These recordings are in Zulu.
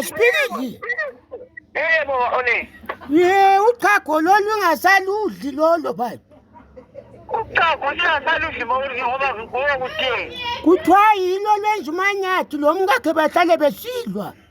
sipiliji yebo one ye uchago lolu ingasaludli lolo bhayi uchago singasaludli mawudli ngoba ngoba kutheni kuthiwa yilo lenza umanyathi lo mkakhe bahlale besilwa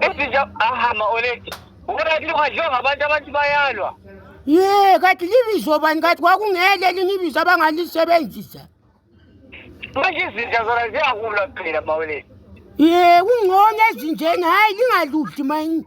Ezinja ahama oledi. Ubona kile kwadliwa ngabantu abantu bayalwa. Ye, kathi libizo bani kathi kwakungele linye ibizo abangalisebenzisa. Manje izinja zona ziyakulwa phela maweledi. Ye, kungcono ezinjeni hayi lingaludli manje.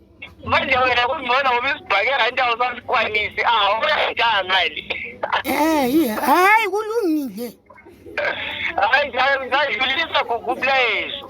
manje wena kungcono ngoba isibhakela indawo sasikwanisi awu uyayidanga mali Eh, hayi kulungile. Hayi, ngidlulisa kukuplayezo.